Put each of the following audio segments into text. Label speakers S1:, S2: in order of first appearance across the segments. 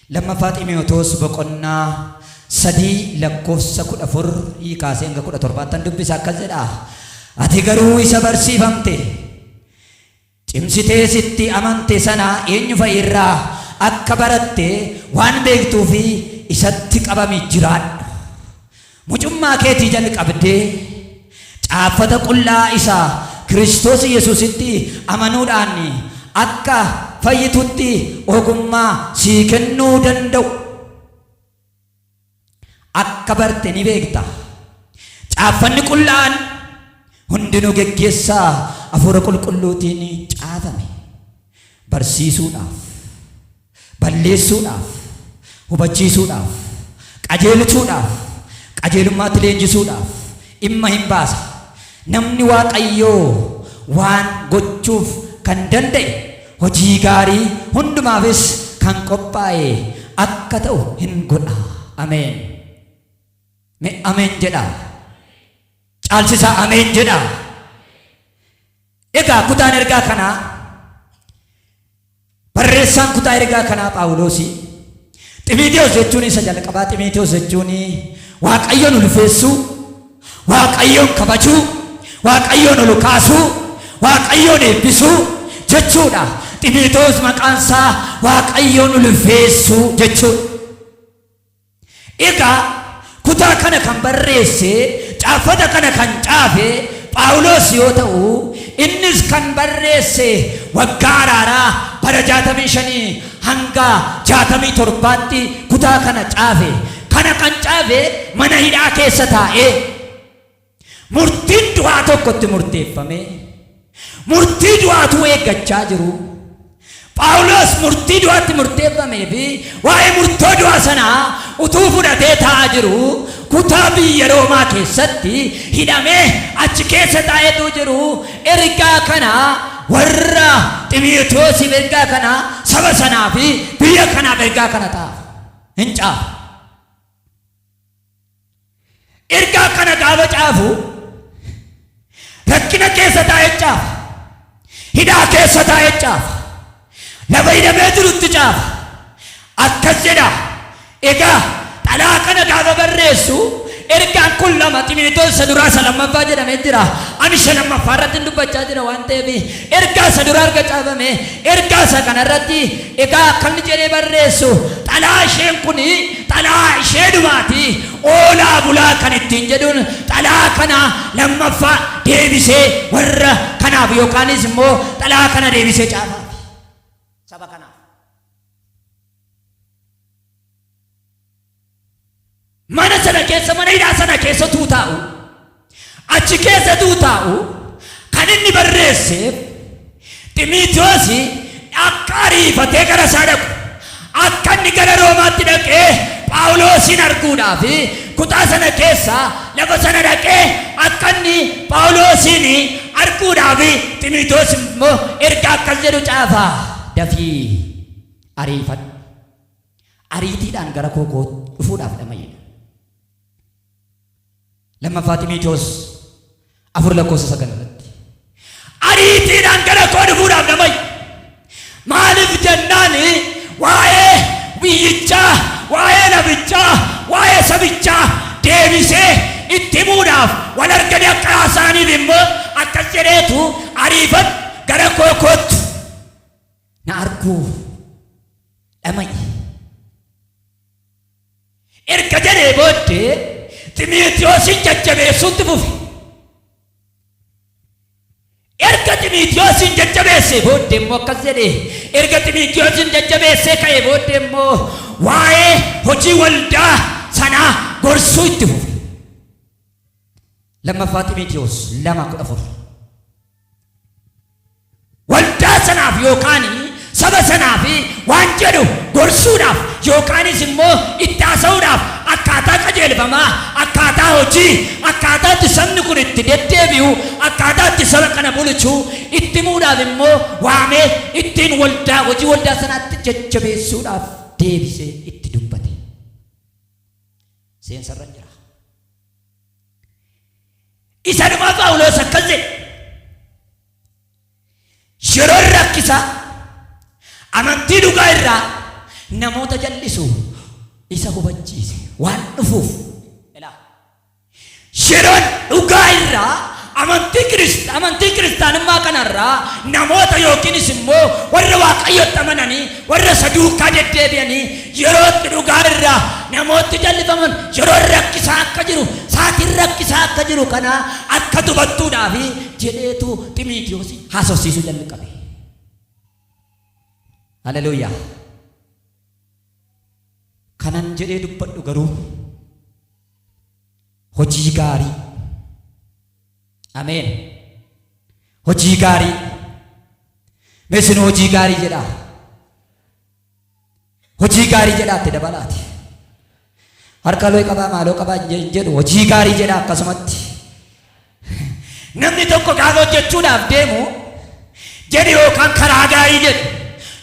S1: Lammaffaa Ximiyootoos boqonnaa sadii lakkoofsa kudha afur kaasee hanga kudha torbaattan dubbisa akkas jedha. Ati garuu isa barsiifamte cimsitee sitti amante sana eenyu fa'i irraa akka baratte waan beektuu fi isatti qabami jiraadhu. Mucummaa keetii jalqabdee Caaffata Qullaa isa Kiristoos Yesuusitti amanuudhaan akka fayyitutti ogummaa sii kennuu danda'u akka barte ni beekta. Caaffanni Qullaa'aan hundinuu geggeessa Hafuura Qulqulluutiin caafame. Barsiisuudhaaf, balleessuudhaaf, hubachiisuudhaaf, qajeelchuudhaaf, qajeelummaatti leenjisuudhaaf dhimma in baasa. Namni Waaqayyoo waan gochuuf kan danda'e, hojii gaarii hundumaafis kan qophaa'e akka ta'u in godha. Ameen. Mee Ameen jedhaa. Caalchisaa Ameen jedhaa. Egaa kutaan ergaa kanaa barreessaan kutaa ergaa kanaa Phaawuloosii Ximiitiyoos jechuun isa jalqabaa Ximiitiyoos jechuun Waaqayyoon ulfeessuu, Waaqayyoon kabajuu, Waaqayyoon ol kaasuu, Waaqayyoon eebbisuu jechuudha. Ximiitiyoos maqaan isaa Waaqayyoon ulfeessuu jechuudha. Egaa, kutaa kana kan barreesse, caaffata kana kan caafe Phaawulos yoo ta'u, innis kan barreesse waggaa araaraa bara 65 hanga 67tti kutaa kana caafe. Kana kan caafe mana hidhaa keessa taa'ee. Murtiin du'aa tokko itti murteeffamee, murtii du'aa utuu eeggachaa jiruu, Phaawulos murtii du'aa itti murteeffamee fi waa'ee murtoo du'aa sanaa utuu fudhatee taa'aa jiruu, kutaa biyya Roomaa keessatti hidhamee achi keessa taa'ee utuu jiruu, ergaa kana warra Ximotewosiif ergaa kana, saba sanaa fi biyya kanaaf ergaa kana xaafa, in caafa. Ergaa kana gaafa caafu rakkina keessa taa'e caafa. Hidhaa keessa taa'e caafa. Lafa hidhamee jirutti caafa. Akkas jedha. Egaa xalaa kana gaafa barreessu ergaan kun lama Ximiitoos isa duraa isa lammaffaa jedhamee jira. Ani isa lammaffaa irratti hin dubbachaa jira waan ta'eef ergaa isa duraa erga caafame ergaa isa kana irratti egaa akkamni jedhee barreessu xalaa isheen kun Xalayaa ishee dubaati oolaa bulaa kan ittiin jedhuun xalayaa kana lammaffaa deebisee warra kanaaf yookaanis immoo xalayaa kana deebisee caafaa fi saba kanaaf. Mana sana keessa mana hidhaa sana keessa utuu taa'u Achi keessa utuu taa'uu kan inni barreesseef, Ximiitewoosi akka ariifatee gara isaa dhaqu, akka inni gara Roomaatti dhaqee Phaawuloosiin arguudhaa fi kutaa sana keessa lafa sana dhaqee akka inni Phaawuloosiin arguudhaa fi Ximiitewoos immoo ergaa akkas jedhu caafa, Dafii ariifadhu, ariitiidhaan gara koo koo dhufuudhaaf dhama'i jedha. Lammaffaa Ximiitiyoos afur lakkoofsa sagal irratti ariitiidhaan gara koo dhufuudhaaf na fayyi. Maaliif jennaan waa'ee biyyichaa, waa'ee lafichaa, waa'ee sabichaa deebisee itti himuudhaaf wal arganii akka haasa'aniif immoo akkas jedheetu ariifadhu gara koo koottu. Na arguuf dhama'i. erga jedhee booddee Ximiitiyoosiin jajjabeessuu itti fufe. Erga Ximiitiyoosiin jajjabeessee booddee immoo akkas jedhe. Erga Ximiitiyoosiin jajjabeessee ka'ee booddee immoo waa'ee hojii waldaa sanaa gorsuu itti fufe. Lammaffaa Ximiitiyoos lama kudha afur. waldaa sanaaf yookaan saba sanaaf waan jedhu gorsuudhaaf yookaanis immoo itti haasa'uudhaaf akkaataa qajeelfamaa, akkaataa hojii, akkaataa itti sabni kun itti deddeebi'u, akkaataa itti saba kana bulchu itti himuudhaaf immoo waamee ittiin waldaa, hojii waldaa sanaatti jajjabeessuudhaaf deebisee itti dubbate. Seensa irra hin jira. Isa dhumaa Phaawulos akkas jedhe. Yeroon rakkisaa amantii dhugaa irraa namoota jal'isu isa hubachiise waan dhufuuf. Ilaa. Yeroon dhugaa irraa Amantii Kirist, amantii kiristaanummaa kana irraa namoota yookiinis immoo warra Waaqayyotti amananii warra isa duukaa deddeebi'anii yeroo itti dhugaa irraa namootni jallifaman yeroon rakkisaa akka jiru, saatiin rakkisaa akka jiru kana akka tubattuudhaaf jedheetu Ximiitiyoos haasofsiisuu jalqabe. Haleluuyaa! Kanan jedhee dubbadhu garuu. hojii gaarii ameen hojii gaarii mee isin hojii gaarii jedhaa hojii gaarii jedhaa itti dabalaati harka looy qabaa maaloo qabaa hin jedhu hojii gaarii jedhaa akkasumatti Namni tokko gaafa hojjechuudhaaf deemu jedhi yookaan karaa gaarii jedhi.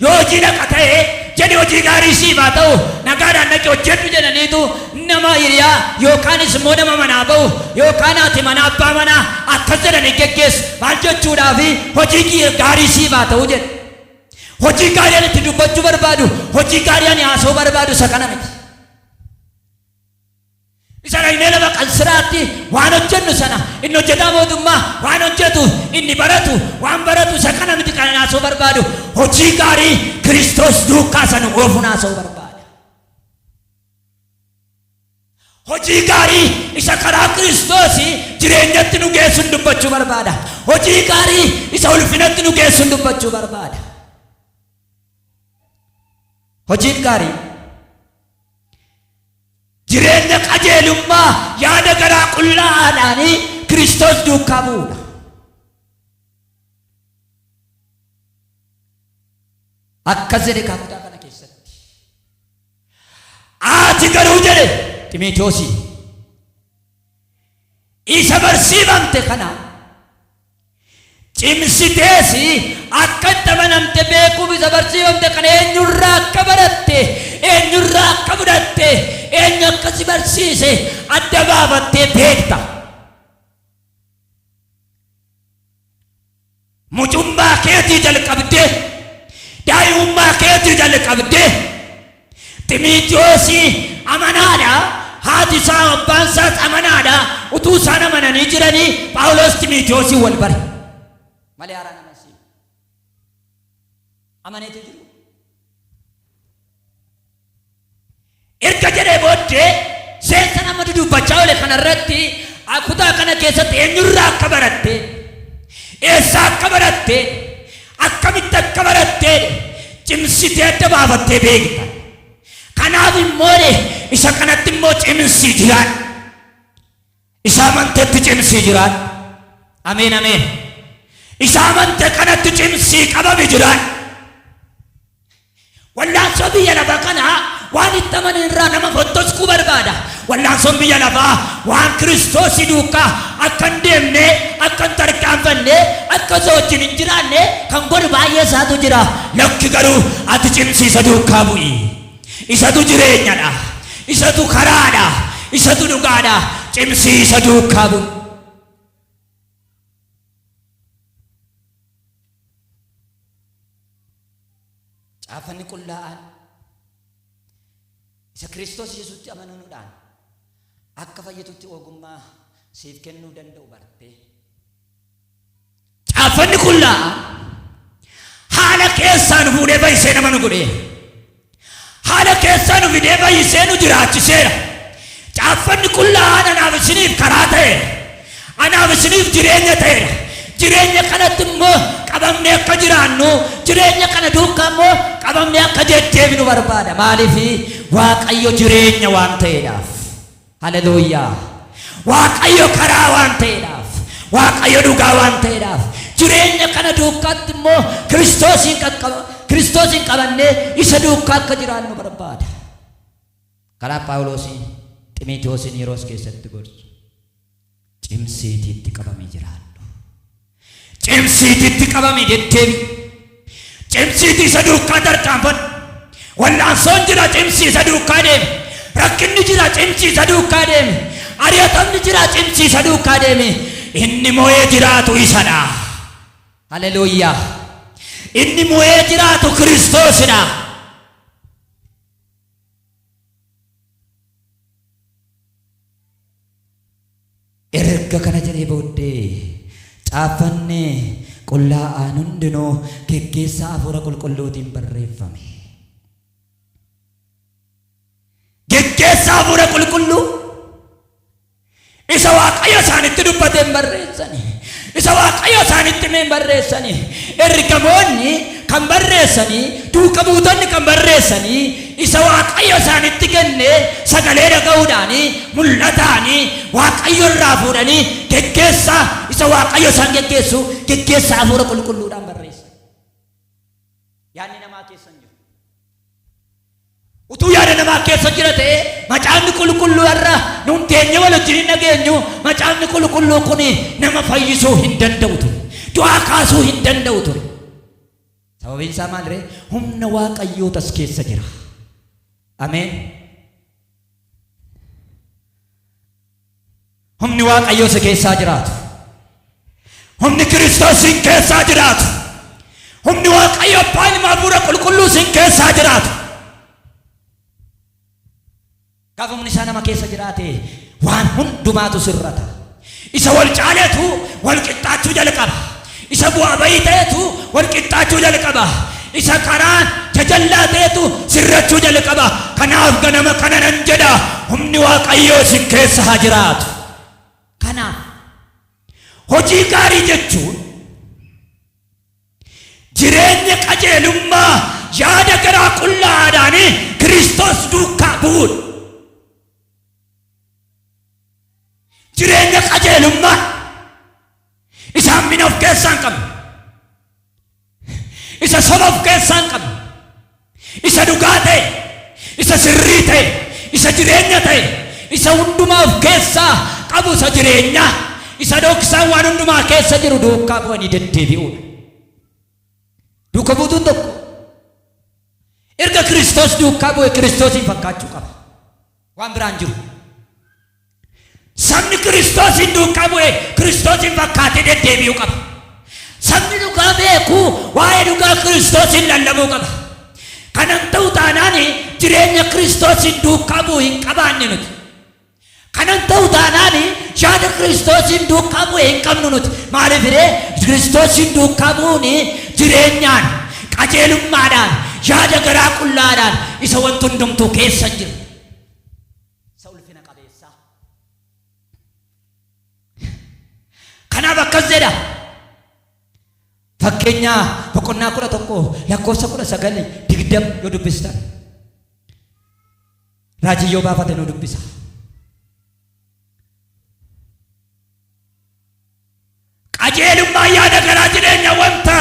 S1: Yoo hojii dhaqa ta'e jedhi hojii gaarii siif haa ta'u nagaadhaan dhaqi hojjedhu jedhaniitu nama hiriyaa yookaanis immoo nama manaa ba'u yookaan haati manaa abbaa manaa akkas jedhanii geggeessu maal jechuudhaafi hojii kiyya gaarii siif haa ta'u jedhe. Hojii gaarii ani itti dubbachuu barbaadu hojii gaarii ani haasa'uu barbaadu isa kana miti. Isa dhaynee lafa qansiraatti waan hojjennu sana inni hojjetaa mootummaa waan hojjetu inni baratu waan baratu isa kana miti kan haasoo barbaadu hojii gaarii Kiristoos duukaa sana oofuun haasoo barbaada. Hojii gaarii isa karaa Kiristoos jireenyatti nu geessuun dubbachuu barbaada. Hojii gaarii isa ulfinatti nu geessuun dubbachuu barbaada. Hojiin gaarii Jireenya qajeelummaa yaada garaa qullaa'aadhaan Kiristoos duukaa bu'uudha. Akkas jedhe kaa kutaa kana keessatti. Ati garuu jedhe Ximitewoosiin isa barsiifamte kana Cimsitees akka itti amanamte beekuuf isa barsiifamte kana eenyurraa akka baratte, eenyurraa akka fudhatte, eenyu akka si barsiise adda baafattee beekta. Mucummaa keetii jalqabdee, daa'imummaa keetii jalqabdee, Ximiitiwoos amanaa dha, haati isaa, abbaan isaas amanaa dha. Utuu isaan amananii jiranii Phaawulos Ximiitiwoosiin wal bare. Malee haaraan amansiin. Amaneetii jiru. Erga jedhee booddee seensa nama dudubbachaa oole kanarratti kutaa kana keessatti eenyurraa akka baratte eessaa akka baratte akkamitti akka barattee cimsitee adda baafattee beekta. Kanaaf immoo isa kanatti immoo cimsii jiraadha. Isa amanteetti cimsii jiraadha. Ameen ameen. Isa amante kanatti cimsii qabame jiraadha. Wallaansoo biyya lafa kanaa waan itti amane irraa nama fottoskuu barbaada. Wallaansoon biyya lafaa waan Kiristoosii duukkaa akka hin deemne, akka hin tarkaanfanne, akka isa wajjin hin jiraanne kan godhu baay'ee isaatu jira. Lakki garuu ati cimsi isa duukkaa bu'i. Isatu jireenyadha. Isatu karaadha. Isatu dhugaadha. Cimsii isa duukkaa bu'i. Caafanni qullaa'aan isa Kiristoos Yesuutti amanuudhaan akka fayyitutti ogummaa siif kennuu danda'u bartee. Caafanni qullaa'aan haala keessaan fuudhee baay'isee nama nu godhee Haala keessaa nu fidee fayyisee nu jiraachiseera. Caaffanni qullaa'aan anaaf isiniif karaa ta'eera. Anaaf isiniif jireenya ta'eera. Jireenya kanatti immoo qabamnee akka jiraannu, jireenya kana duukaa immoo qabamnee akka deddeebinu barbaada. Maaliif? Waaqayyo jireenya waan ta'eedhaaf. Haleluuyaa! Waaqayyo karaa waan ta'eedhaaf, Waaqayyo dhugaa waan ta'eedhaaf, jireenya kana duukaatti immoo Kiristoosiin qaqqaba, Kiristoosiin qabannee isa duukaa akka jiraannu barbaada. Karaa Phaawuloosiin Ximiitiyoosiin Yeroos keessatti gorsu. Cimsiiti itti qabami jiraadhu. Cimsiiti itti qabami deddeebi. Cimsiiti isa duukaa tarkaanfadhu. Wal'aansoon jira cimsi isa duukaa deemi. Rakkinni jira cimsi isa duukaa deemi. Ari'atamni jira cimsi isa duukaa deemi. Inni mo'ee jiraatu isadha. Haleluuyaa. Inni mo'ee jiraatu Kiristoosidha. Erga kana jedhee booddee, Caaffanni qullaa'aan hundinuu geggeessaa Hafuura Qulqulluutiin barreeffame. Geggeessaa Hafuura Qulqulluu isa Waaqayyo isaanitti dubbateen barreessani. Isa Waaqayyo isaanitti hime hin barreessanii. Ergamoonni kan barreessanii, duuka buutonni kan barreessanii, isa Waaqayyo isaanitti kenne sagalee dhaga'uudhaanii, mul'ataanii, Waaqayyo irraa fuudhanii geggeessaa isa Waaqayyo isaan geggeessu, geggeessaa hafuura qulqulluudhaan barreessan. Yaadni namaa keessa hin jiru. utuu yaada namaa keessa jira ta'e macaafni qulqulluu har'a nuun teenye wal wajjin hin dhageenyu macaafni qulqulluu kun nama fayyisuu hin danda'u ture du'aa kaasuu hin danda'u ture sababiin isaa maal ree humna waaqayyoo tas keessa jira ameen Humni Waaqayyoo si keessaa jiraatu. Humni Kiristoos sin keessaa jiraatu. Humni Waaqayyo Abbaa Ilma Hafuura Qulqulluu sin keessaa jiraatu. Gaafa humni isaa nama keessa jiraate waan hundumaatu sirrata. Isa wal caaleetu wal qixxaachuu jalqaba. Isa bu'aa ba'ii ta'etu wal qixxaachuu jalqaba. Isa karaan jajallaa ta'etu sirrachuu jalqaba. Kanaaf ganama kana nan jedha, humni Waaqayyoo isin keessa haa jiraatu. Kanaaf, hojii gaarii jechuun jireenya qajeelummaa yaada garaa qullaa'aadhaan Kiristoos duukaa bu'uudha. Jireenya qajeelummaa Isa hammina of keessaa hin qabne. Isa soba of keessaa hin qabne. Isa dhugaa ta'e. Isa sirrii ta'e. Isa jireenya ta'e. Isa hundumaa of keessaa qabu isa jireenyaa. Isa dhoksaan waan hundumaa keessa jiru duukaa bu'anii deddeebi'uudha. Duuka buutuun tokko erga Kiristoos duukaa bu'e Kiristoosiin fakkaachuu qaba. Waan biraan jiru. Sabni Kiristoosiin duukaa bu'e Kiristoosiin fakkaatee deddeebi'uu qaba. Sabni dhugaa beeku waa'ee dhugaa Kiristoosiin lallabuu qaba. Kana hin ta'u taanaan jireenya Kiristoosiin duukaa bu'u hin qabaanne nuti. Kana hin ta'u taanaan yaada Kiristoosiin duukaa bu'e hin qabnu nuti. Maaliif ree Kiristoosiin duukaa bu'uun jireenyaan, qajeelummaadhaan, yaada garaa qullaadhaan isa wanti hundumtuu keessa hin jiru. Isa ulfina qabeessaa. Kanaaf akkas jedha. Fakkeenyaa boqonnaa kudha tokko lakkoofsa kudha sagal digdam yoo dubbistan. Raajii yoo baafate nu dubbisa. Qajeelummaa yaada garaa jireenya wanta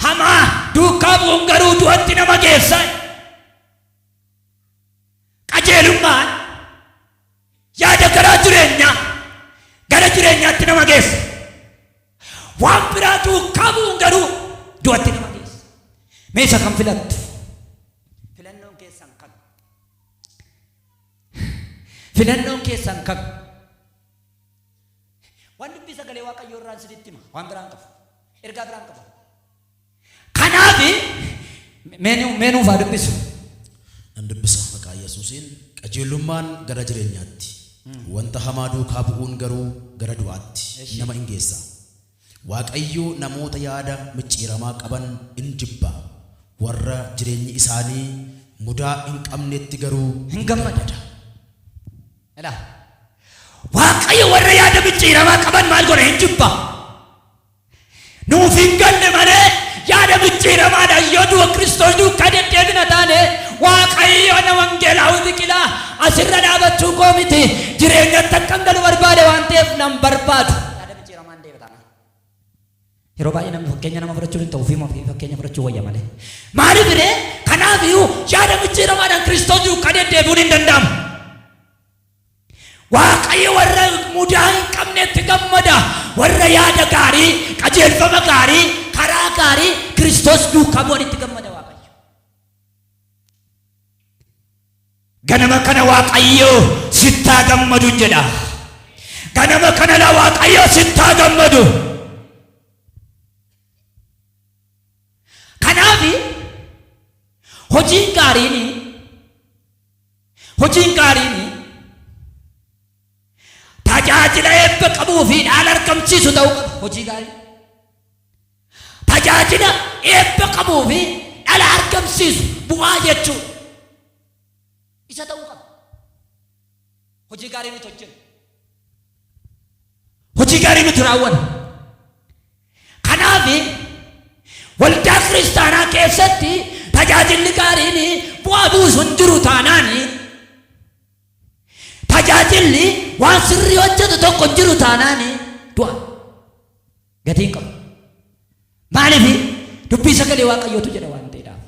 S1: hamaa duukaa bu'uun garuu du'atti nama geessa. qajeelummaan yaada garaa jireenyaa gara jireenyaatti nama geessa waan biraa duukaa bu'uun garuu du'atti nama geessa meesha kan filattu filannoon keessan kan filannoon keessan kan waan dubbii sagalee waaqayyoo irraan sinitti hima waan biraan qabu ergaa biraan qabu Kanaaf, mee nuuf haa dubbisu. Nan
S2: dubbisa maqaa Yesuusiin. Qajeelummaan gara jireenyaatti, wanta hamaa duukaa bu'uun garuu gara du'aatti nama in geessa. Waaqayyo namoota yaada micciiramaa qaban in jibba, warra jireenyi isaanii mudaa hin qabnetti garuu in gammada.
S1: Ilaa, Waaqayyo warra yaada micciiramaa qaban maal godha? In jibba. Nuuf hin galle malee yaada mijjiiramaadhaan yoo du'a Kiristoos duukkaa deddeebina taane Waaqayyo na Wangeelaawi Biqilaa asirra dhaabachuu koo miti jireenyatti akkan galu barbaade waan ta'eef nan barbaadu. Yaada mijjiiramaan deema taanaan. Yeroo baay'ee namni fakkeenya nama fudhachuun hin ta'u ofiima ofii fakkeenya fudhachuu wayya malee. Maaliif ree? Kanaaf iyyuu yaada mijjiiramaadhaan Kiristoos duukkaa deddeebi'uun hin danda'amu. Waaqayyo warra mudaa hin qabnetti gammada, warra yaada gaarii, qajeelfama gaarii, karaa gaarii Kiristoos duukaa bu'anitti gammada Waaqayyo. Ganama kana Waaqayyo sittaa gammadu hin jedha. Ganama kana la Waaqayyo sittaa gammadu. Kanaaf hojiin gaariin Hojiin gaariin tajaajila eebba qabuu fi dhaala argamsiisu ta'uu qaba. Hojii gaarii. Tajaajila eebba qabuu fi dhala argamsiisu bu'aa jechuun isa ta'uu qaba. Hojii gaarii nuti hojjennu. Hojii gaarii nuti raawwanna. Kanaaf waldaa kiristaanaa keessatti tajaajilli gaariin bu'aa buusu hin jiru taanaan tajaajilli waan sirrii hojjetu tokko hin jiru taanaan du'a gatii hin qabu. Maaliif dubbii sagalee waaqayyootu jedha waan ta'eedhaaf.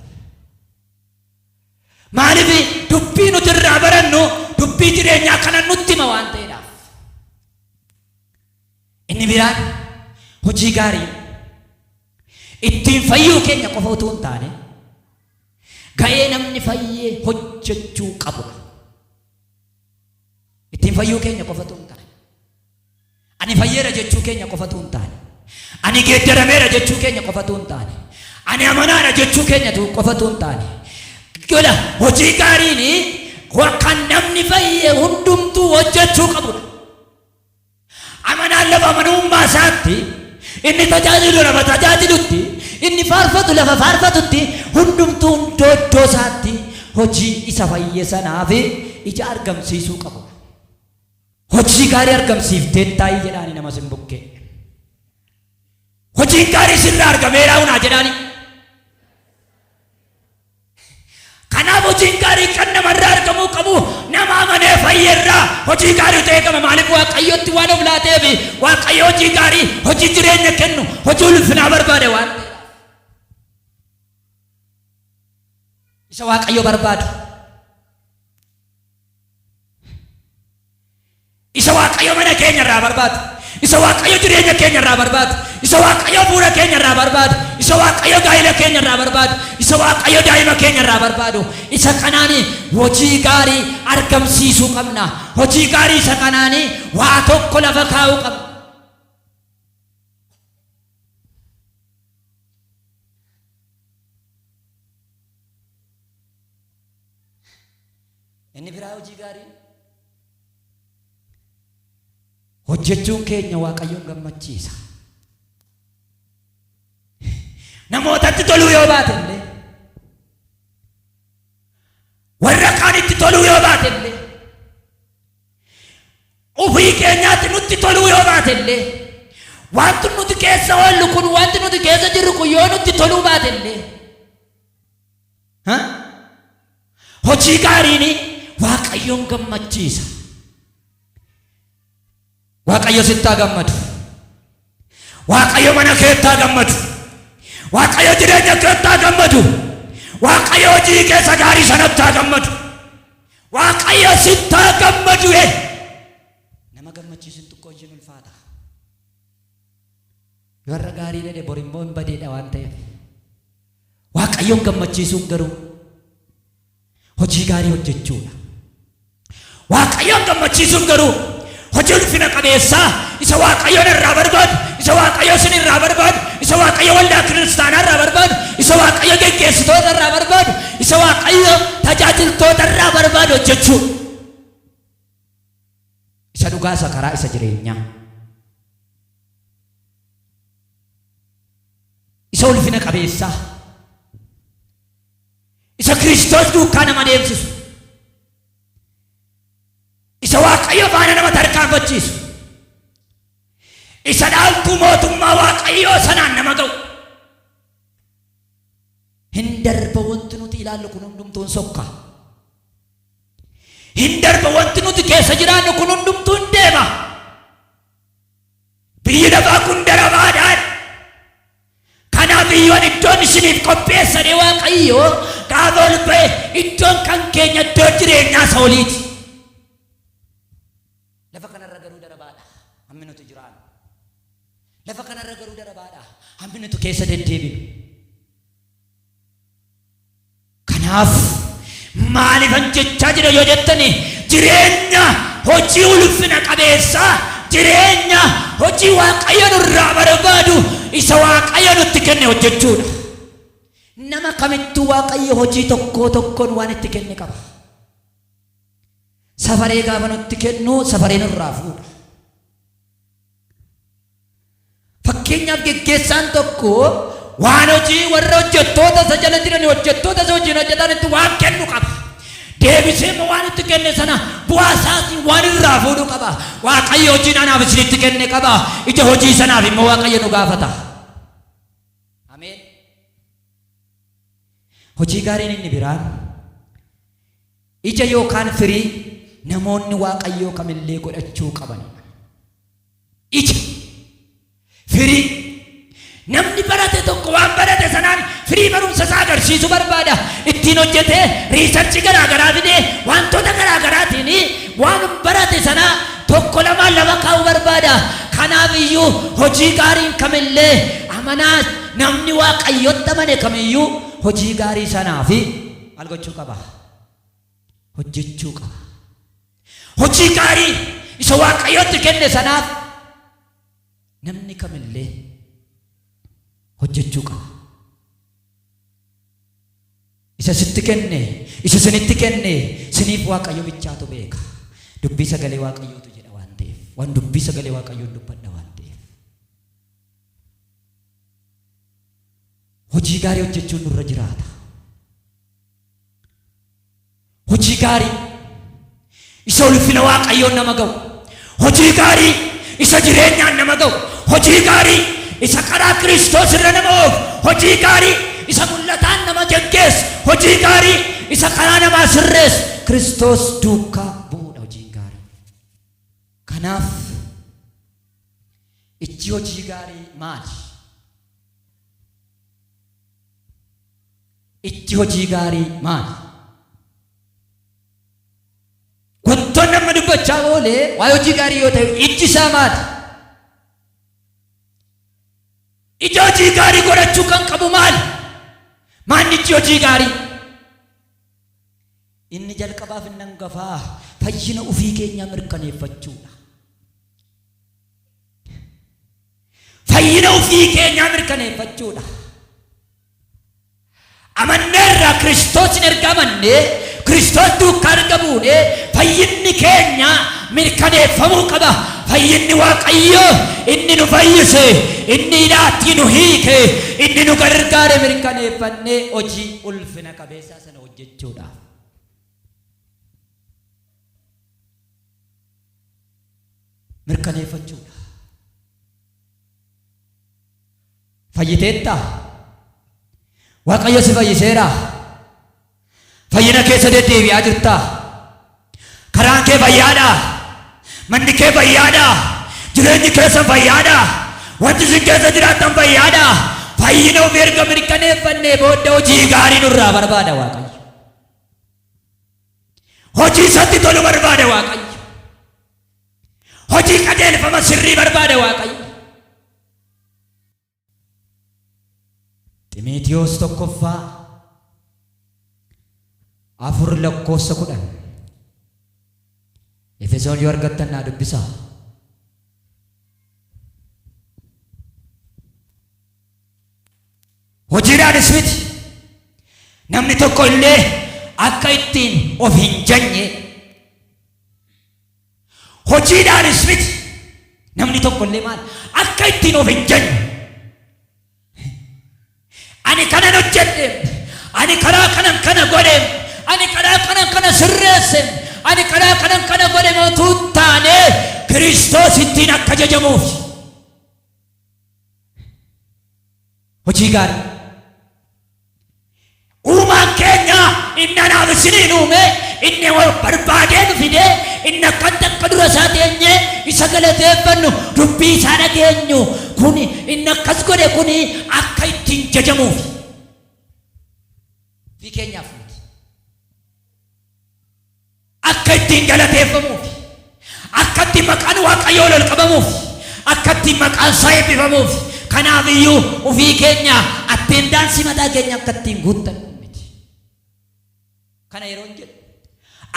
S1: Maaliif dubbii nuti irraa barannu dubbii jireenyaa kana nutti hima waan ta'eedhaaf. Inni biraan hojii gaarii ittiin fayyuu keenya qofa utuu hin taane ga'ee namni fayyee hojjechuu qabudha. Ittiin fayyuu keenya qofa utuu hin taane. Ani fayyeera jechuu keenya qofa utuu hin taane, ani geeddarameera jechuu keenya qofa utuu hin taane, ani amanaadha jechuu keenya tu- qofa utuu hin taane, Ila, hojii gaariin wa- kan namni fayye hundumtuu hojjechuu qabudha. Amanaan lafa amanummaa isaatti, inni tajaajilu lafa tajaajilutti, inni faarfatu lafa faarfatutti, hundumtuu hundoo iddoo isaatti hojii isa fayye sanaaf ija argamsiisuu qabudha. Hojii gaarii argamsiifteettaayi jedhaani nama sin bukkee. Hojiin gaarii sirraa argameeraa unaa jedhaani. Kanaaf hojiin gaarii kan namarraa argamuu qabu nama amanee fayyerraa hojii gaarii ta'ee qaba maaliif waaqayyotti waan of laateef waaqayyo hojii gaarii hojii jireenya kennu hojii ulfinaa barbaade waan ta'eef. Isa waaqayyo barbaadu. Isa Waaqayyo mana keenya irraa barbaadu, isa Waaqayyo jireenya keenya irraa barbaadu, isa Waaqayyo bu'uura keenya irraa barbaadu, isa Waaqayyo gaa'ila keenya irraa barbaadu, isa Waaqayyo daa'ima keenya irraa barbaadu, isa kanaan hojii gaarii argamsiisuu qabna. Hojii gaarii isa kanaan waa tokko lafa kaa'uu qabna. Inni biraa hojii gaarii hojjechuun keenya Waaqayyoon gammachiisa. Namootatti toluu yoo baate illee warra kaanitti toluu yoo baate illee ofii keenyaatti nutti toluu yoo baate illee wanti nuti keessa oollu kun wanti nuti keessa jirru kun yoo nutti toluu baate illee Ha? Hojii gaariin Waaqayyoon gammachiisa. Waaqayyo sittaa gammadu. Waaqayyo mana keettaa gammadu. Waaqayyo jireenya keettaa gammadu. Waaqayyo hojii keessa gaarii sanattaa gammadu. Waaqayyo sittaa gammadu. ee. Nama gammachiisun xiqqoo ishiin ulfaata. Yoo har'a gaarii dha bor immoo hin badeedha waan ta'eef. Waaqayyoon gammachiisuun garuu hojii gaarii hojjechuudha. Waaqayyoon gammachiisuun garuu hojii ulfina qabeessaa isa Waaqayyoon irraa barbaadu, isa Waaqayyo isin irraa barbaadu, isa Waaqayyo waldaa kiristaanaa irraa barbaadu, isa Waaqayyo geggeessitoota irraa barbaadu, isa Waaqayyo tajaajiltoota irraa barbaadu hojjechuudha. Isa dhugaa isa karaa isa jireenyaa. isa ulfina qabeessaa, isa Kiristoos duukaa nama deemsisu, isa Waaqayyo faana nama tarkaanfachiisu, isa dhaaltuu mootummaa Waaqayyoo sanaan nama ga'u. Hin darba wanti nuti ilaallu kun hundumtuun sokka. Hin darba wanti nuti keessa jiraannu kun hundumtuun deema. Biyyi lafaa kun daramaadhaan. Kanaaf iyyuu ani iddoon isiniif qopheessadhe Waaqayyoo gaafa ol ba'e iddoon kan keenya iddoo jireenyaa isa oliiti. Lafa kanarra garuu darabaadha hammi nuti jiraannu. Lafa kanarra garuu darabaadha hammi nuti keessa deddeebinu. Kanaaf, maalifan jechaa jira yoo jettan, jireenya hojii ulfina qabeessa, jireenya hojii Waaqayyo nurraa barbaadu, isa Waaqayyo nutti kenne hojjechuu dha. Nama kamittuu Waaqayyo hojii tokkoo tokkoon waan itti kenne qaba. Safaree gaafa nutti kennu, safaree nurraa fuudha. Fakkeenyaaf geggeessaan tokko waan hojii warra hojjettoota isa jala jiran hojjettoota isa hojiin hojjetanitti waan kennu qaba. Deebisee immoo waan itti kenne sana bu'aa isaatiin waan irraa fuudhu qaba. Waaqayyo hojiin anaaf isinitti kenne qaba. Ija hojii sanaaf immoo Waaqayyo nu gaafata. Ameen. Hojii gaariin inni biraan Ija yookaan firii namoonni Waaqayyoo kamillee godhachuu qabanidha. Ija, firii. Namni barate tokko waan barate sanaan firii barumsa isaa agarsiisu barbaada. Ittiin hojjetee riisarchi garaa garaa fidee wantoota garaa garaatiin waan barate sana tokko lamaan lafa kaa'uu barbaada. Kanaaf iyyuu hojii gaariin kamillee amanaa namni Waaqayyotti amane kamiyyuu hojii gaarii sanaa fi maal gochuu qaba? hojjechuu qaba. Hojii gaarii isa Waaqayyootti kenne sanaaf namni kamillee hojjechuu qaba. Isa sitti kenne, isa sinitti kenne, siniif Waaqayyo bichaatu beeka. Dubbii sagalee Waaqayyootu jedha waan ta'eef, waan dubbii sagalee Waaqayyoon dubbadha waan ta'eef. Hojii gaarii hojjechuun nurra jiraata. hojii gaarii isa ulfina waaqayyoon nama ga'u hojii gaarii isa jireenyaan nama ga'u hojii gaarii isa karaa kiristoos irra nama oofu hojii gaarii isa mul'ataan nama geggeessu hojii gaarii isa karaa namaa sirreessu kiristoos duukaa bu'uudha hojiin gaarii kanaaf ijji hojii gaarii maali Ijji hojii gaarii maali? Guntoon amma dubbachaa oole waa'ee hojii gaarii yoo ta'e ijji isaa maali? Ija hojii gaarii godhachuu kan qabu maali? Maanni ijji hojii gaarii? Inni jalqabaaf inni hangafaa fayyina ofii keenyaa mirkaneeffachuudha. Fayyina ofii keenyaa mirkaneeffachuudha. Amanneerra Kiristoosn erga amannee, Kiristoos duukkaa erga buunee, fayyinni keenya mirkaneeffamuu qaba. Fayyinni Waaqayyoo inni nu fayyise, inni hidhaattii nu hiike, inni nu gargaare mirkaneeffannee hojii ulfina qabeessaa sana hojjechuudhaaf. Mirkaneeffachuudha. Fayyiteettaa? Waaqayyo si fayyiseeraa? Fayyina keessa deddeebi'aa jirtaa? Karaan kee fayyaadhaa? Manni kee fayyaadhaa? Jireenyi keessan fayyaadhaa? Wanti isin keessa jiraattan fayyaadhaa? Fayyina ofii erga mirkaneeffannee booda hojii gaarii nurraa barbaada Waaqayyo. Hojii isatti tolu barbaada Waaqayyo. Hojii qajeelfama sirrii barbaada Waaqayyo. Ximitiyoos tokkoffaa afur lakkoofsa kudhan Efesoon yoo argattan naa dubbisaa. Hojiidhaanis miti namni tokko illee akka ittiin of hin janye Hojiidhaanis miti. Namni tokko illee maal akka ittiin of hin jenne. Ani kanan hojjedhe, ani karaa kanan kana godhe, ani karaa kanan kana sirreesse, ani karaa kanan kana godhe mootuu taane Kiristoos ittiin akka jajamuuf. Hojii gaarii. Uumaan keenya inni anaaf isiniin uume inni wal barbaadee nu fide inni akkatti akka dura isaa teenye isa galateeffannu dubbii isaa dhageenyu kun inni akkas godhe kun akka ittiin jajamuuf fi keenyaaf miti. Akka ittiin galateeffamuu fi akka ittiin maqaan Waaqayyoo ol ol qabamuu fi akka ittiin maqaan isaa eebbifamuu fi kanaaf iyyuu ofii keenya atteendaansii mataa keenya akka ittiin guuttannu miti. Kana yeroon jedhu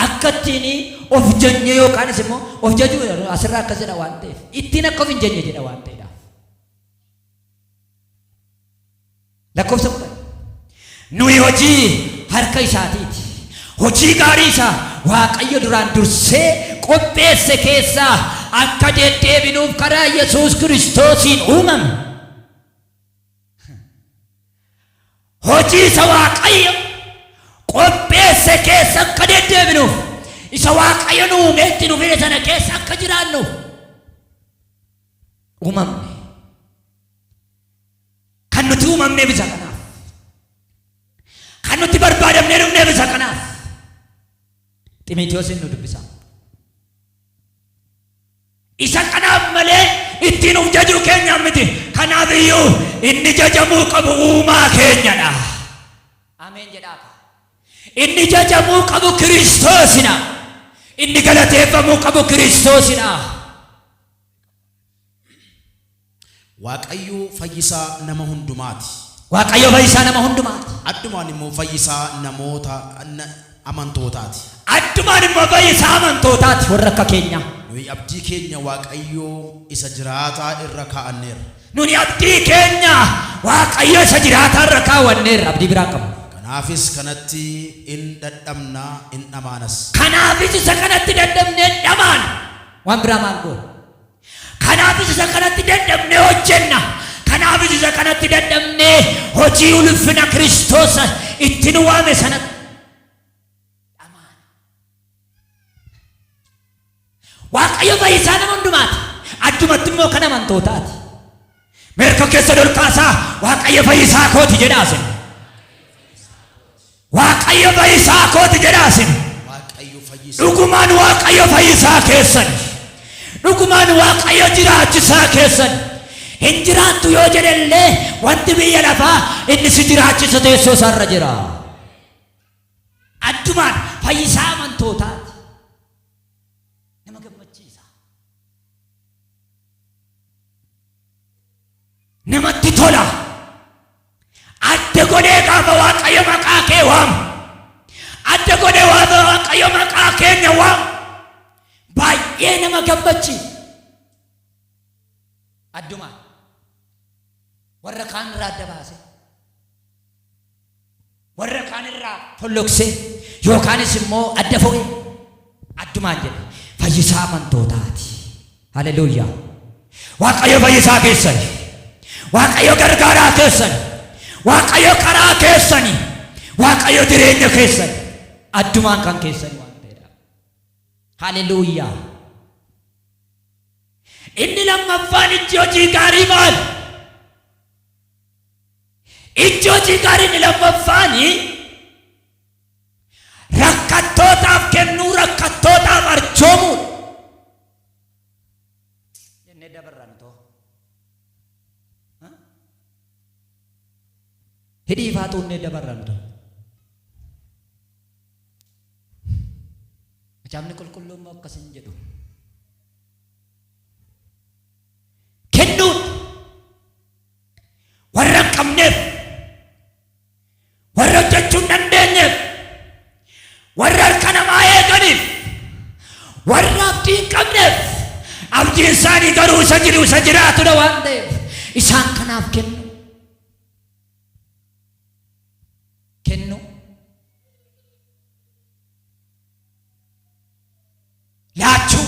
S1: akka ittiin of jajnee yookaanis immoo of jajuu asirraa akkas jedha waan ta'eef ittiin akka of hin jajne jedha waan ta'eedhaaf. Lakkoofsa kudhan. Nuyi hojii harka isaatiiti. Hojii gaarii isa Waaqayyo duraan dursee qopheesse keessaa akka deddeebinuuf karaa Yesuus Kiristoosiin uumame. Hojii isa Waaqayyo qopheesse keessa akka deddeebinuuf, isa Waaqayyo nu uumee itti nu fide sana keessa akka jiraannuuf uumamne. Kan nuti uumamneef isa kanaaf. Kan nuti barbaadamnee dhufneef isa kanaaf. Ximiitiyoosiin nu dubbisaa. Isa kanaaf malee ittiin of jajuu keenya miti. Kanaaf iyyuu inni jajamuu qabu uumaa keenyadha. Ameen jedhaa kaa. Inni jajamuu qabu Kiristoosidha. Inni galateeffamuu qabu Kiristoosidha.
S2: Waaqayyo fayyisaa nama hundumaati. Waaqayyo fayyisaa
S1: nama hundumaati. Addumaan immoo
S2: fayyisaa namoota na- amantootaati. Addumaan
S1: immoo fayyisaa amantootaati warra akka keenyaa. Nuyi abdii keenya
S2: Waaqayyo isa jiraataa irra kaa'anneerra. Nuni abdii
S1: keenya Waaqayyo isa jiraataa irra kaawwanneerra abdii biraa hin qabnu. Kanaafis kanatti
S2: in dadhabna in dhamaanas. Kanaafis isa
S1: kanatti dadhabnee hin dhamaana. Waan biraa maal goona? Kanaafis isa kanatti dadhabnee hojjenna. Kanaafis isa kanatti dadhabnee hojii ulfina Kiristoos itti nu waame sanatti dhamaana. Waaqayyo fayyisaa nama hundumaati. Addumatti immoo kan amantootaati. Mee tokkeessoo dolqaasaa Waaqayyo fayyisaa kooti jedhaa sin. Waaqayyo fayyisaa kooti jedhaa sin. Waaqayyo fayyisa. Dhugumaan Waaqayyo fayyisaa keessan. Dhugumaan Waaqayyo jiraachisaa keessan. Hin jiraattu yoo jedhe illee wanti biyya lafaa inni si jiraachisa teessoo isaarra jira. Addumaan fayyisaa amantootaati. namatti tola adda godhee gaafa waaqayyo maqaa kee waamu adda godhee waafa waaqayyo maqaa keenya waamu baay'ee nama gammachiisa addumaan warra kaan irraa adda baasee warra kaan irraa folloksee yookaanis immoo adda fo'ee addumaan jedhe fayyisaa amantootaati. Haleluuyaa! Waaqayyo fayyisaa keessani. Waaqayyo gargaaraa keessani. Waaqayyo karaa keessani. Waaqayyo jireenya keessani. Addumaan kan keessani waan ta'eedha. Haleluuyaa! Inni lammaffaan ijji hojii gaarii maali? Ijji hojii gaarii inni lammaffaan rakkattootaaf kennuu, rakkattootaaf arjoomuudha. Jennee dabarran too. Ha? Hidhii ifaa xuunnee dabarran too. Macaafni qulqulluun immoo akkas hin jedhu. kennuun warra hin qabneef warra hojjechuu hin dandeenyeef warra harka namaa eeganiif warra abdii hin qabneef abdiin isaanii garuu isa jiru isa jiraatudha waan ta'eef isaan kanaaf kennu kennu laachuu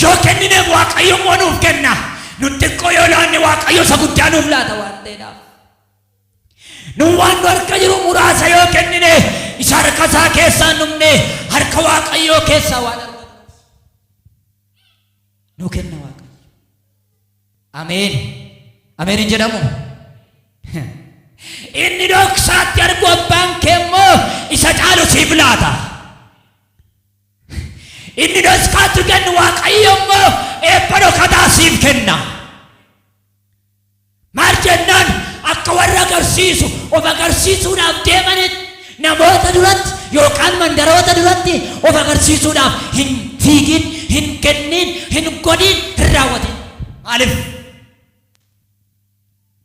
S1: Yoo kennineef Waaqayyo immoo nuuf kenna. Nu xiqqoo yoo laanne Waaqayyo isa guddaa nuuf laata waan ta'eedhaaf. Nu waan nu harka jiru muraasa yoo kennine isa harka isaa keessaa hin dhumne harka Waaqayyoo keessaa waan argannuuf. Nu kenna Waaqayyo. Ameen. Ameen hin jedhamu. Inni dhoksaatti argu abbaan kee immoo isa caalu siif laata. Inni dhoskaatti kennu Waaqayyo immoo eebba dhokataa siif kenna. Maal jennaan akka warra agarsiisu of agarsiisuudhaaf deemanitti namoota duratti yookaan mandaroota duratti of agarsiisuudhaaf hin fiigin, hin kennin, hin godhin, hin raawwatin. Maaliif?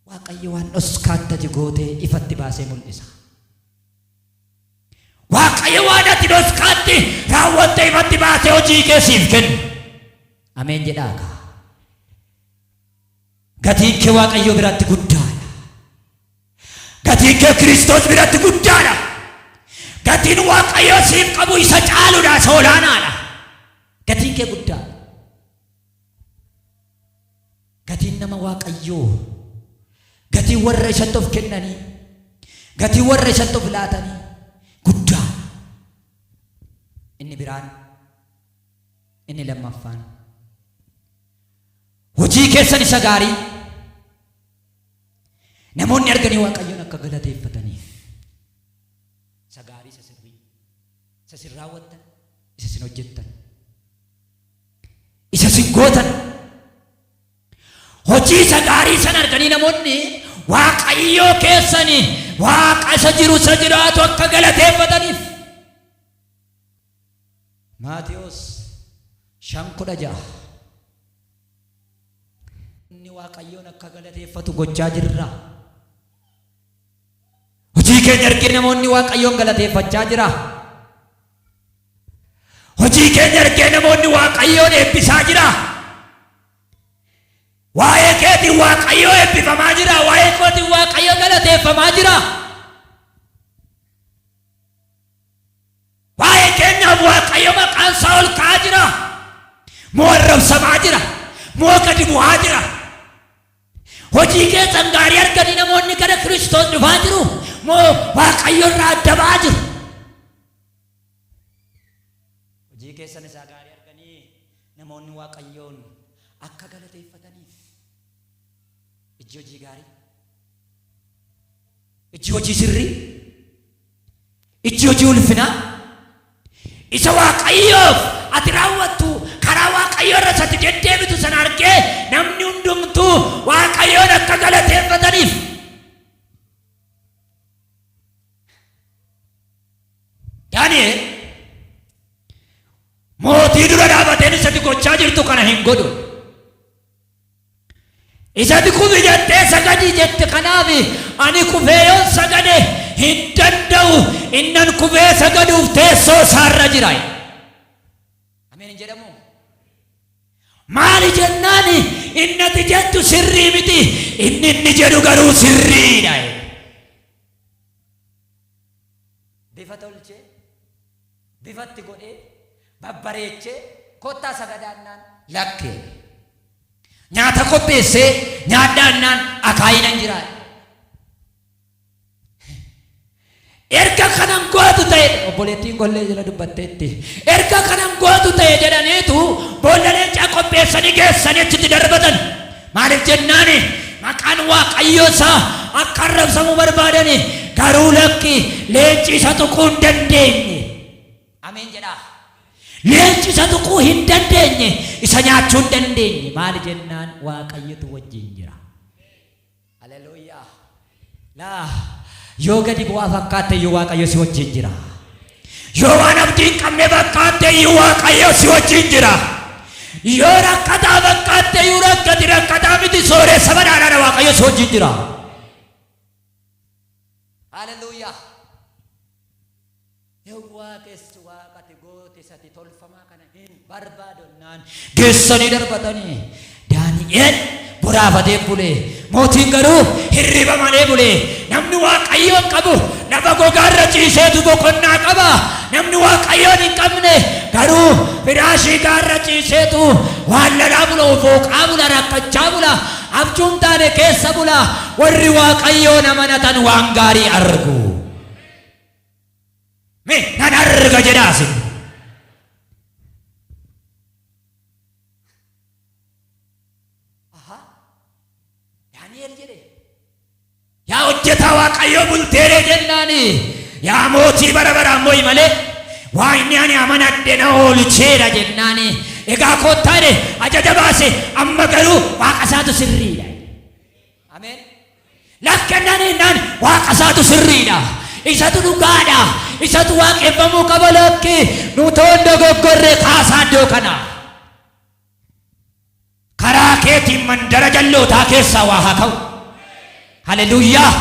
S1: Waaqayyo waan dhoskaatti ati gootee ifatti baasee mul'isa. Waaqayyo waan ati dhoskaatti raawwatte ifatti baasee hojii kee siif kenna. Ameen jedhaa kaa. Gatiin kee Waaqayyo biratti guddaadha. Gatiin kee Kiristoos biratti guddaadha. Gatiin Waaqayyo siif qabu isa caaludha, isa olaanaadha. Gatiin kee guddaadha. Gatiin nama Waaqayyoo, gatiin warra isatti of kennanii, gatiin warra isatti of laatanii guddaa. Inni biraan, inni lammaffaan. Hojii keessan isa gaarii namoonni arganii Waaqayyoon akka galateeffataniif isa gaarii isa sirrii isa isin raawwattan isa isin hojjettan Isa isin gootan. Hojii isa gaarii sana arganii namoonni Waaqayyoo keessani Waaqa isa jiru isa jiraatu akka galateeffataniif. Maatiyos shan kudha ja'a. Inni Waaqayyoon akka galateeffatu gochaa jirra. Hojii keenya argee namoonni Waaqayyoon galateeffachaa jira. Hojii keenya argee namoonni Waaqayyoon eebbisaa jira. Waa'ee keetiin Waaqayyoo eebbifamaa jira. Waa'ee kootiin Waaqayyoo galateeffamaa jira. Waa'ee keenyaaf Waaqayyo maqaan isaa ol ka'aa jira. Moo arrabsamaa jira. Moo gadi bu'aa jira. Hojii keessan gaarii arganii namoonni gara Kiristoos dhufaa jiru moo Waaqayyo irraa adda ba'aa jiru? Hojii keessan isaa gaarii arganii namoonni Waaqayyoon akka galateeffataniif ijji hojii gaarii Ijji hojii sirrii, ijji hojii ulfinaa, isa Waaqayyoof ati raawwattu karaa Waaqayyoo irra sati deddeebitu sana argee namni hundumtuu Waaqayyoon akka galateeffataniif Daani'el mootii dura dhaabateen isatti gochaa jirtu kana hin godhu. Isatti kufi jettee sagadi jette kanaafi ani kufee yoon sagade hin danda'u innan kufee sagaduuf teessoo isaarra jira jedhe. Ameen hin jedhamu? Maali jennaan inni ati jettu sirrii miti inni inni jedhu garuu sirriidha jedhe. Bifa tolchee bifa itti godhee, babbareechee, Kottaa sagadaa jennaan. Lakki jedhe. Nyaata qopheessee, Nyaadhaa jennaan, Akaayii nan jiraa jedhe. Erga kana hin gootu ta'e, obboleettiin gollee jala dubbatteetti, erga kana hin gootu ta'e jedhaniitu boolla leencaa qopheessanii geessanii achitti darbatan. Maaliif jennaan maqaan Waaqayyoo isaa akka arrabsamu barbaadani, garuu lakki leenci isa tuquu hin dandeenye. Ameen jedhaa. Leenci isa tuquu hin dandeenye, isa nyaachuu hin dandeenye. Maali jennaan Waaqayyotu wajjin jira. Haleluuyaa. Laa, yoo gadi bu'aa fakkaatte iyyuu Waaqayyo si wajjin jira. Yoo waan abdii hin qabne fakkaatte iyyuu Waaqayyo si wajjin jira. Yoo rakkataa fakkaatte iyyuu rakkati rakkataa miti sooressa badhaadhaadha Waaqayyo si wajjin jira. Haleluuyaa! Yawwaa kessi waaqati gooti sati tolfamaa kana hin barbaadonnaan geessanii darbatanii Daani'eel boraafatee bule mootiin garuu hirriba malee bule namni waaqayyoon qabu lafa gogaarra ciiseetu boqonnaa qaba namni waaqayyoon hin qabne garuu firaashii gaarra ciiseetu waan lalaa bula ofooqaa bula rakkachaa bula abjuun taane keessa bula warri waaqayyoon amanatan waan gaarii argu. Mee nan arga jedhaa isin. Ahaa, Daani'el jedhe. Yaa hojjetaa Waaqayyoo bulteeree jennaani. Yaa mootii bara baraan mo'i malee waa inni ani amanadhe na oolcheera jennaani. Egaa kottaa jedhe ajaja baase amma garuu waaqa isaatu sirriidha. Ameen. Naf kennanii nan waaqa isaatu sirriidha. Isatu dhugaadha. Isatu waaqeffamuu qaba lakki. Nutoon dogoggorre kaasaa iddoo kana. Karaa keetiin mandara jallootaa keessaa waa haa ka'u. Haleluuyaa.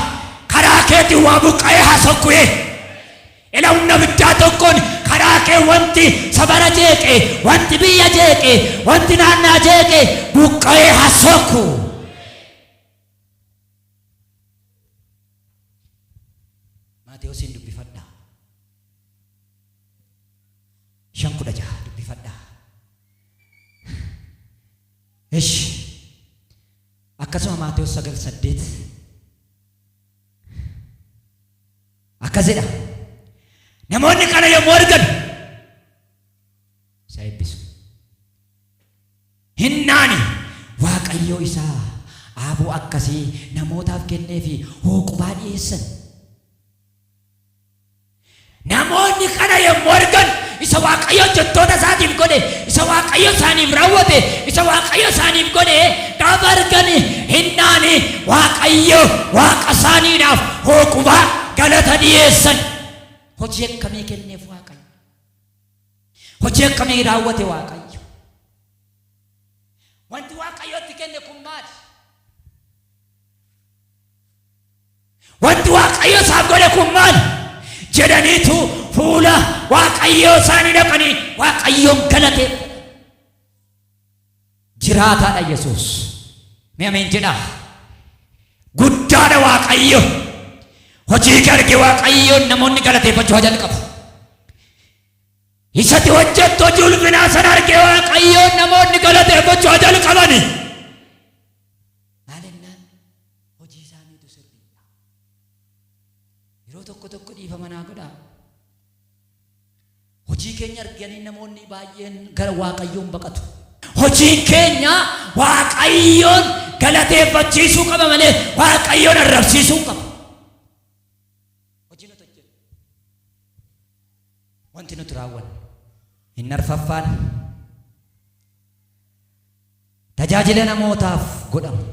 S1: Karaa keetiin waa buqqa'ee haa sokku'ee. Ela humna abiddaa tokkoon karaa kee wanti sabara jeeqe, wanti biyya jeeqe, wanti naannaa jeeqe buqqa'ee haa soku. Maatewosiin dubbifadhaa. shan kudha jaha dubbifadhaa. Ish akkasuma Maatewos sagal saddeet Akkas jedha. Namoonni kana yommuu argan isa eebbisu. Hinnaani Waaqayyoo isaa aaboo akkasii namootaaf kennee fi hooqubaa dhiyeessan. Namoonni kana yommuu argan isa Waaqayyo hojjettoota isaatiif godhe, isa Waaqayyo isaaniif raawwate, isa Waaqayyo isaaniif godhe gaafa argan hennaan Waaqayyo Waaqa isaaniidhaaf hookubaa galata dhiyeessan. Hojii akkamii kenneef Waaqayyo? Hojii akkamii raawwate Waaqayyo? Wanti Waaqayyo itti kenne kun maali? Wanti Waaqayyo isaaf godhe kun maali? jedhaniitu fuula Waaqayyoo isaanii dhaqanii Waaqayyoon galateeffatan. Jiraataadha Yesuus. Mee ameen jedhaa. Guddaadha Waaqayyo. Hojii kee arge Waaqayyoon namoonni galateeffachuu haa jalqabu. Isatti hojjettu hojii ulfinaa sana arge Waaqayyoon namoonni galateeffachuu haa jalqabani. hojii isaaniitu sirriidha. Yeroo tokko tokko dhiifama naa godhaa. Hojii keenya arganii namoonni baay'een gara Waaqayyoon baqatu. Hojiin keenya Waaqayyoon galateeffachiisuu qaba malee Waaqayyoon arrabsiisuu hin qabu. Hojii nuti hojjennu, wanti nuti raawwannu hin arfaffaan. Tajaajila namootaaf godhamu.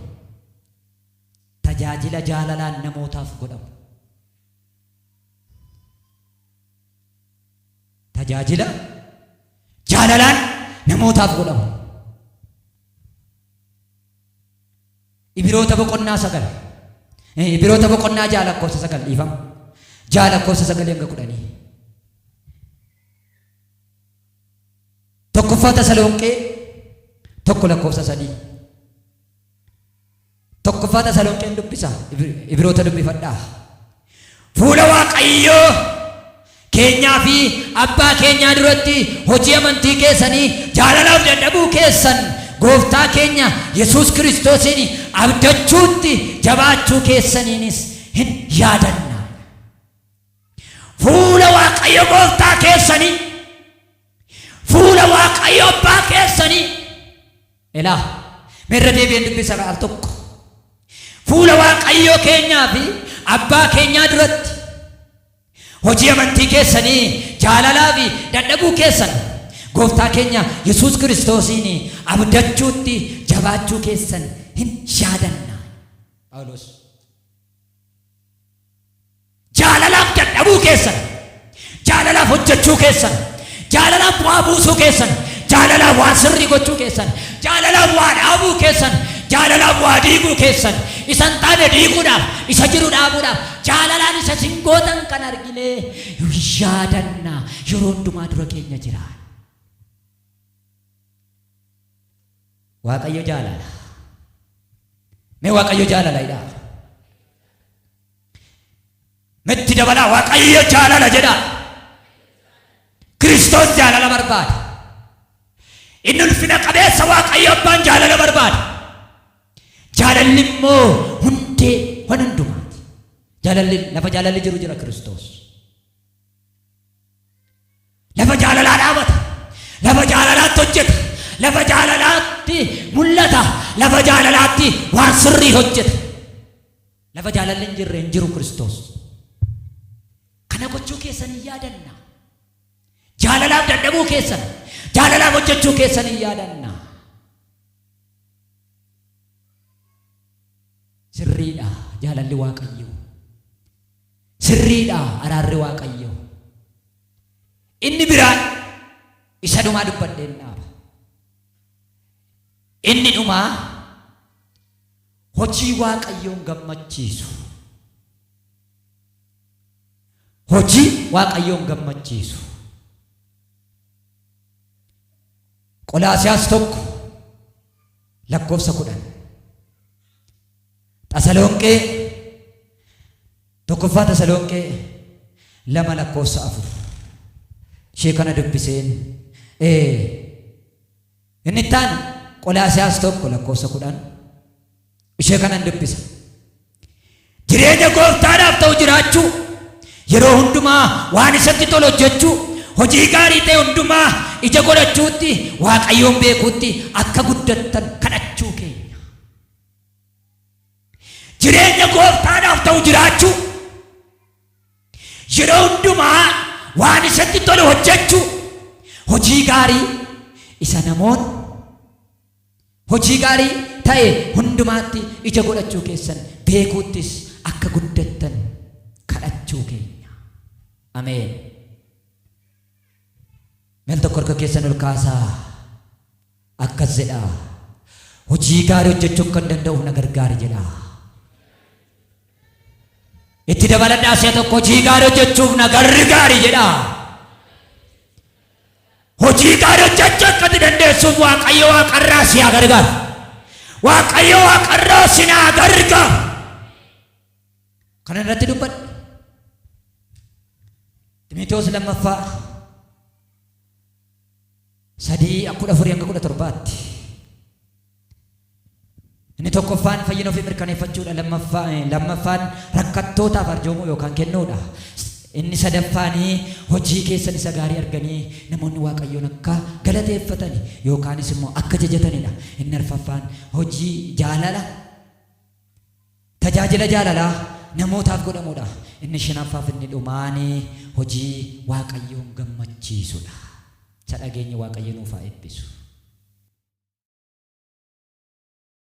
S1: Tajaajila jaalalaan namootaaf godhamu. Tajaajila jaalalaan namootaaf godhamu. Ibiroota boqonnaa sagal. Eh, Ibiroota boqonnaa ja'a lakkoofsa sagal dhiifama. Ja'a lakkoofsa sagalii hanga kudhanii. Tokkoffaa Tasalonqee tokko lakkoofsa sadii. Tokkoffaa Tasalonqeen dubbisa ibiroota dubbifadhaa. Fuula Waaqayyoo keenyaa fi abbaa keenyaa duratti hojii amantii keessanii jaalalaaf dadhabuu keessan gooftaa keenya Yesuus Kiristoosiin abdachuutti jabaachuu keessaniinis hin yaadanna. Fuula Waaqayyo gooftaa keessanii, fuula Waaqayyo abbaa keessanii, elaa, mee irra deebi'een dubbisa al tokko. Fuula Waaqayyoo keenyaa fi abbaa keenyaa duratti hojii amantii keessanii jaalalaa fi dadhabuu keessan gooftaa keenya Yesuus Kiristoosiin abdachuutti jabaachuu keessan hin yaadanna. Phaawulos. Jaalalaaf dadhabuu keessan, jaalalaaf hojjechuu keessan, jaalalaaf bu'aa buusuu keessan, jaalalaaf waan sirrii gochuu keessan, jaalalaaf waa dhaabuu keessan, jaalalaaf waa diiguu keessan, isa hin taane diiguudhaaf, isa jiru dhaabuudhaaf, jaalalaan isa isin gootan kan arginee yaadanna yeroo hundumaa dura keenya jira. Waaqayyo jaalala. Mee Waaqayyo jaalala jedhaa. Metti dabalaa waaqayyo jaalala jedhaa. Kiristoos jaalala barbaada. Inni ulfina qabeessa waaqayyo abbaan jaalala barbaada. Jaalalli immoo hundee waan hundumaati. Jaalalli lafa jaalalli jiru jira Kiristoos. Lafa jaalalaa dhaabata. Lafa jaalalaatti hojjeta. Lafa jaalalaatti mul'ata. Lafa jaalalaatti waan sirrii hojjeta. Lafa jaalalli hin jirre hin jiru Kiristoos. Kana gochuu keessan hin yaadanna. Jaalalaaf dadhabuu keessan, jaalalaaf hojjechuu keessan hin yaadanna. Sirriidha jaalalli Waaqayyoo. Sirriidha araarri Waaqayyoo. Inni biraan isa dhumaa dubbadheen dhaaba. Inni dhumaa Hojii Waaqayyoon gammachiisu. Hojii Waaqayyoon gammachiisu. Qolaasiyaas tokko lakkoofsa kudhan. Tasalonqee tokkoffaa Tasalonqee lama lakkoofsa afur. Ishee kana dubbiseen ee Inni itti aanu Qolaasiyaas 1 lakkoofsa 10 ishee kanan dubbisa. Jireenya gooftaadhaaf ta'u jiraachuu, yeroo hundumaa waan isatti tolu hojjechuu, hojii gaarii ta'e hundumaa ija godhachuutti Waaqayyoon beekuutti akka guddattan kadhachuu keenya. Jireenya gooftaadhaaf ta'u jiraachuu. Yeroo hundumaa waan isatti tolu hojjechuu, hojii gaarii isa namoonni hojii gaarii ta'e hundumaatti ija godhachuu keessan beekuuttis akka guddattan kadhachuu keenya. Ameen. Meel tokko harka keessan ol kaasaa. Akkas jedhaa, Hojii gaarii hojjechuu akkan danda'uuf na gargaari jedhaa. Itti dabaladhaa si'a tokko hojii gaarii hojjechuuf na gargaari jedhaa. Hojii gaarii hojjechuu akka itti dandeessuuf Waaqayyo waaqarraa si haa gargaaru. Waaqayyo waaqarraa si naa gargaaru. Kana irratti dubbadhe. Ximitewoos lammaffaa 3 ak 14-17 tti. Inni tokkoffaan fayyina ofii mirkaneeffachuudha. Lammaffaa, eh, lammaffaan rakkattootaaf arjoomuu yookaan kennuudha. S- Inni sadaffaanii hojii keessan isa gaarii arganii namoonni Waaqayyoon akka galateeffatani yookaanis immoo akka jajatanidha. Inni arfaffaan hojii jaalala Tajaajila jaalalaa namootaaf godhamudha. Inni shnaffaaf inni dhumaan hojii Waaqayyoon gammachiisudha. Isa dhageenye Waaqayyo nuuf haa eebbisu.